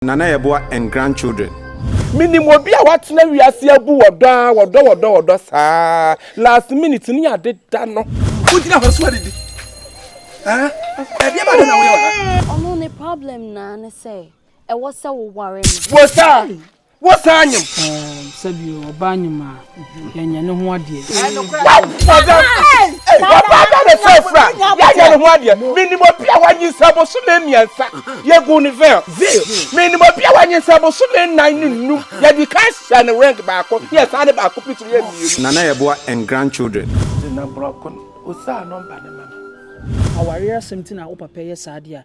na na yɛboa and grandchildren. Menim obi a watena wiase abu wɔ dɔ aa wɔ dɔ wɔ dɔ wɔ dɔ saa last minute no yɛ ade da no. Wo gyina hɔ so adidi aa ɛdeɛ bɛn na woyɛ wɔ ha. Ɔno ne problem no aa ne sɛ ɛwɔ sɛ wo ware no. Wo saa wo saa nyem. Ɛɛ sɛbi ɔbaa nyem aa. yɛnyɛ ne ho adeɛ. wɔbaada ne frɛfrɛ a yɛnyɛ ne ho adeɛ menim obi a wanyinsɛ bosome mmiɛnsa yɛgu ne veil menim obi a wanyinsɛ bosome nnan ne nnum yɛde ka hyɛ ne ring baako ne yɛsan de baako pitiri yɛ mmienu. nana yɛ boa and grandchildren. nti na borɔko no osaa nɔmba no ma me. Awareɛ asɛm nti na wo papa yɛ saa deɛ a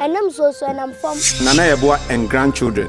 Ɛnam nsuo so, ɛnam fam. Na na yɛboa Engran Children.